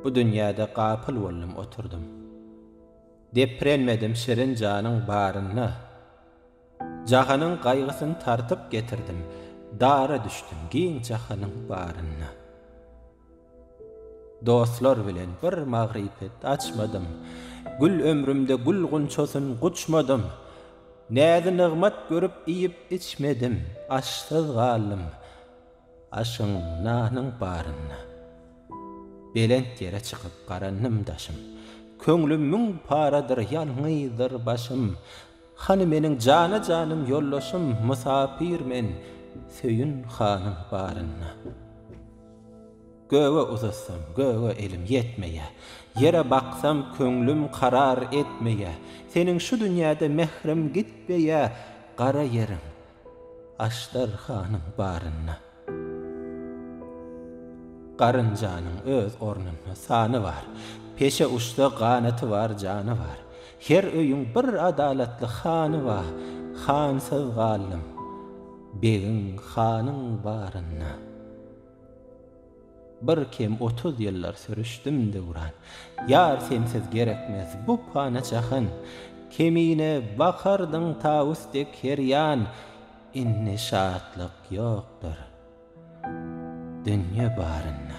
Bu dünýäde gapyl boldum oturdym. Deprenmedim şirin janyň barynda. Jahanyň gaýgysyn tartyp getirdim, Dara düşdüm giň jahanyň barynda. Dostlar bilen bir magrypet açmadym, Gül ömrümde gül gunçasyn guçmadym. Näzi-nygmat görüp iýip-içmedim, Aşsyz galdym. Aşyň, nanyň barynda. Belent ýere çykyp garandym daşym. Köňlüm müň paradyr, ýalňyzdyr başym. Hany meniň jana-janym ýoldaşym, Mysapyr men, söýün hanyň barynda. Göge uzatsam, göge elim ýetmeýä. Ýere baksam, köňlüm karar etmeýä. Seniň şu dünýäde mährim gitmeýä. Gara ýeriň, Aždarhanyň barynda Garynjanyň öz ornunda sany bar, Peşe uçsa ganaty bar, jany bar. Her öýüň bir adalatly hany ba, Hansyz galdym, begiň, hanyň barynda. Bir kem otuz ýyllar sürüşdim döwran, Ýar sensiz gerekmez bu pana jahan. Kemine bakardyň tawus dek her ýan, Indi şatlyk ýokdur dünýe barynda.